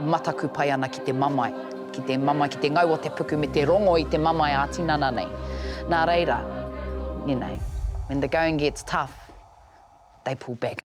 Mataku pai ana ki te mamae, ki te mamae, ki te ngau o te puku me te rongo i te mamae ā-tinana nei. Nā reira, you know, when the going gets tough, they pull back.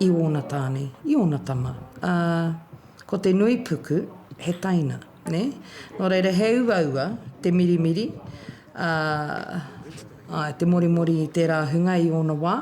i ōna tāne, i ōna tama, ā, ko te nui puku, he taina, nē? Nō reira, he uaua te mirimiri, ā, āe, te morimori i tērā hunga i ōna wā,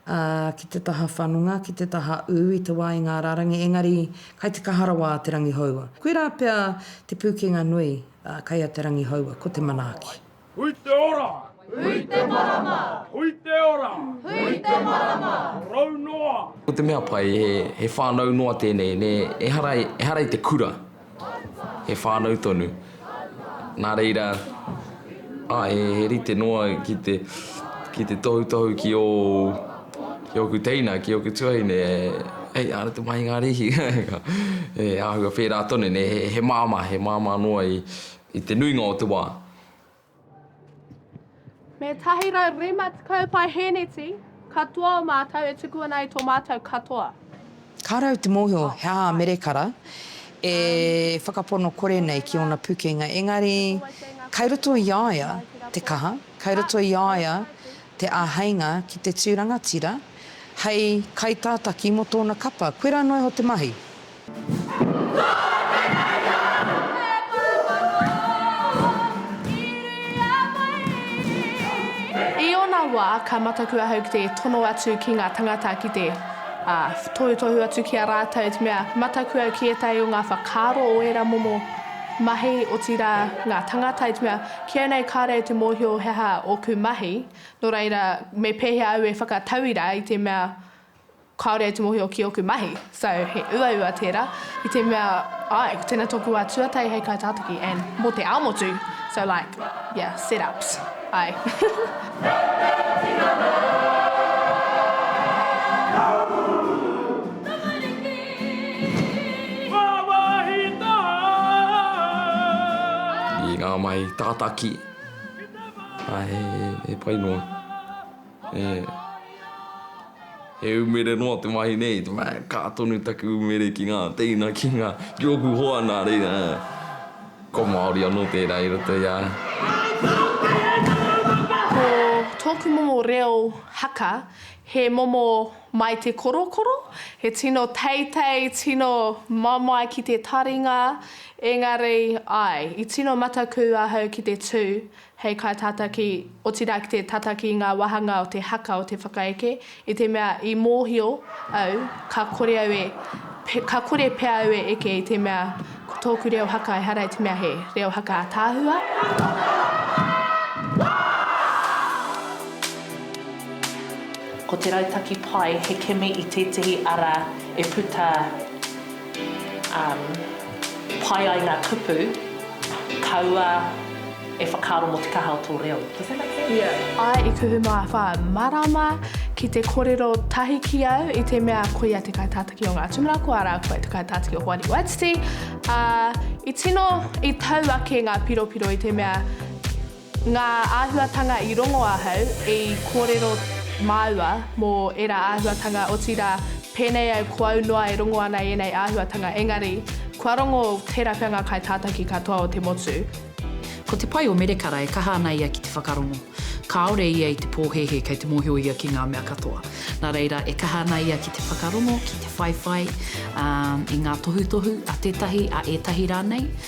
ā, ki te taha whanonga, ki te taha ū i te wā i ngā rārangi, engari, kai te kaha rawa a Te Rangihoua. Koirā pea te pūkenga nui, ā, kai a Te Rangihoua, ko te manaaki. Hui te ora! Hui te marama! Hui te ora! Hui te marama! Rau noa! Ko te mea pai, he, he whanau noa tēnei, nē, ehara, ehara i te kura, he whanau tonu. Nā reira, ā, he, he rite noa ki te, ki te tohutohu ki ō, ki ōku teina, ki ōku tuahine, hei, āna te mahi ngā rīhi, he āhua whērā tonu, nē, he, he māmā, he māmā noa i, I te nuinga o te wā. Me tahi rau rima tekau paeheneti katoa o mātou e tuku ana i tō mātou katoa. Ka rau te mōhio he aha a Merekara e whakapono kore nei ki ōna pukenga, engari kai roto i a ia te kaha, kai roto i a ia te āheinga ki te tū rangatira hei kaitātaki mō tōna kapa. Koirā noa iho te mahi. I ōna wā, ka mataku ahau ki te tono atu ki ngā tangata ki te tohutohu atu ki a rātou, te mea, matakua ki ētahi o ngā whakaaro o ērā momo mahi, otirā, ngā tangata, te mea, ki au nei kāore au te mōhio he aha ōku mahi, nō reira, me pēhea au e whakatauira i te mea, Kāore au te mōhio ki ōku mahi. So, he uaua tērā, i te mea, āe, ko tēnā tōku wā tuatahi hei kaitātaki, and mō te ao motu, so like, yeah, set ups, āe. I ngā mahi tātaki, āe, he pai noa. He umere noa te mahi nei, te mahi, ka tonu taku umere ki ngā teina, ki ngā, ki ōku hoa nā reira, ko Māori anō tērā i roto i a. Ko tōku momo reo haka, he momo mai te korokoro, he tino teitei, tino mamae ki te taringa, engari, āe, i tino matakū ahau ki te tū, hei kaitātaki, otirā ki te tataki i ngā wāhanga o te haka o te whakaeke, i te mea i mōhio au ka kore au e, ka kore pea au e eke i te mea ko tōku reo haka ehara i te mea he reo haka ātaahua. Ko te rautaki pai he kimi i tētehi ara e puta. Um, pai ai ngā kupu, kaua e whakaaro mō te kaha o tō reo. Does that make sense? Yeah. Ai i kuhu mā whā marama ki te korero tahi ki au i te mea ko ia te kaitātaki o ngā tumara ko ara koe te kaitātaki o Hoani Waititi, ā, i tino, i tau ake ngā piropiro i te mea Ngā āhuatanga i rongo ahau i kōrero māua mō ērā āhuatanga, otirā, pēnei au ko au noa e rongo ana i ēnei āhuatanga, engari, kua rongo tērā pea ngā kaitātaki katoa o te motu. Ko te pai o Merekara e kaha ana ia ki te whakarongo. Kāore ia i te pōhēhē kei te mōhio ia ki ngā mea katoa. Nā reira, e kaha ana ia ki te whakarongo, ki te whaiwhai, ā, i ngā tohutohu a tētahi, a ētahi rānei.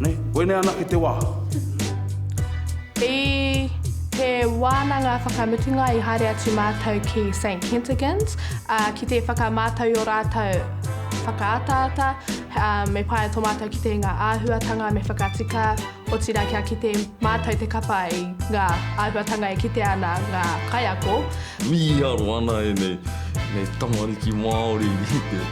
Nei, koinei anake te wā. I te wānanga whakamutunga i haere atu mātou ki Saint Kentigern's, ā, ki te whakamātau i ō rātou whakaataata, ā, me whāia tō mātou kitenga āhuatanga me whakatika, otirā kia kite mātou te kapa i ngā āhuatanga e kitea ana ngā kaiako. Mīharo ana ēnei tamariki Māori i te.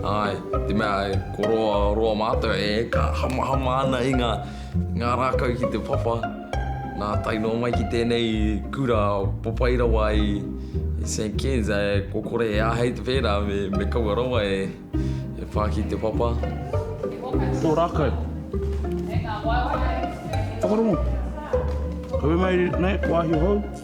Āe, te mea e kororoa mātou e ka hamahama ana i ngā rākau ki te papa, nā tae noa mai ki tēnei kura papai rawa i St Ken's e ko kore e āhei te pērā me kaua rawa e pā ki te papa. Tō rākau. Whakarongo. Kawe mai nei, wāhi hou.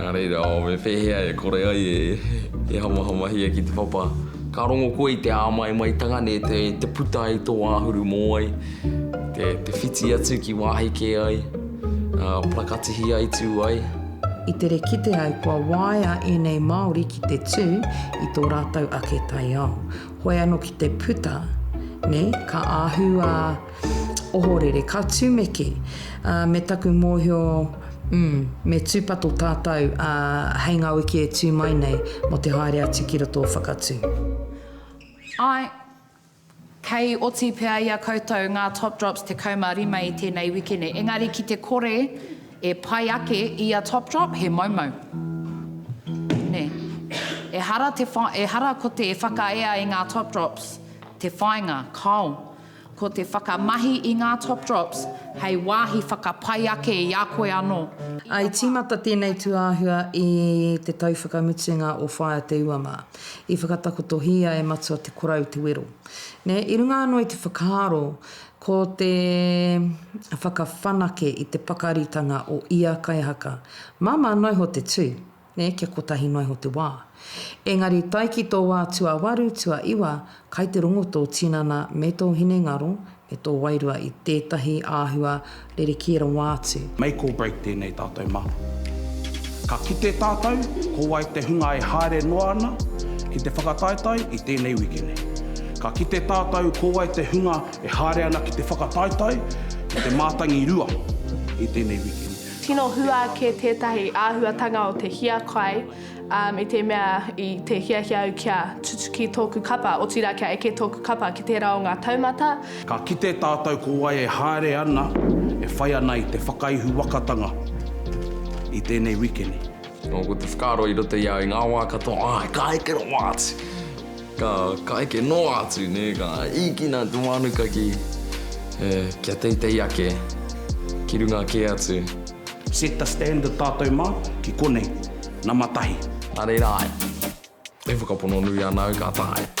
Nā reira, oh, me pēhea e kore ai e hamahamahia ki te papa? Ka rongo koe i te āmaimaitanga nei i te puta ai tō āhuru mōai, te whiti atu ki wāhi kē ai, parakatihi ai, tū ai. I tere kite ai kua waea ēnei Māori ki te tū i tō rātou ake taiao. Hoi anō ki te puta, nē, ka āhūā. Ohorere, ka tumeke, ā, me taku mōhio, mm, me tūpato tātou, ā, hei ngā wiki e tū mai nei, mō te haere atu ki roto o Whakatū. Āe, kei oti pea i a koutou ngā Top Drops 15 i tēnei wikene, engari ki te kore e pai ake i a Top Drop, he moumou. Nē. Ehara te wha, ehara ko te whakaea i ngā Top Drops te whāinga, kāo. Ko te whakamahi i ngā Top Drops hei wāhi whakapai ake i a koe anō. I tīmata tēnei tūāhua i te tau whakamutunga o Whaea Te Ua mā. I whakatakotohia e Matua Te Korau te wero. Nē, i runga anō i te whakaaro ko te whakawhanake i te pakaritanga o ia kaihaka, māmā noiho te tū, nē, kia kotahi noa iho te wā. Engari i tae ki tō wā tuawaru, tuaiwa, kai te rongo tō tinana me tō hinengaro me tō wairua i tētahi āhua rerekē rawa atu. Make or break tēnei tātou mā. Ka kite tātou ko wai te hunga e haere noa ana ki te whakataetae i tēnei wiki nei. Ka kite tātou ko wai te hunga e haere ana ki te whakataetae ki te mātangi rua i tēnei wiki nei. Tino hua ake tētahi āhuatanga o te hiakai i te mea i te hiahia au kia tutuki tōku kapa, otirā kia eke tōku kapa ki tērā o ngā taumata. Ka kite tātou ko wai e haere ana, e whai ana i te whakaihuwakatanga i tēnei wikene. Ko te whakaaro i roto i au i ngā wā katoa, āe, ka eke rawa atu. Ka, ka eke noa atu, nē, ka īkina te mānuka ki, e, kia teitei ake, ki runga kē atu. Set the standard tātou mā, ki konei, nama tahi. Nā reira ai. E whakapono nui ana au ka taea.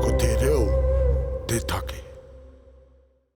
Ko te reo te take.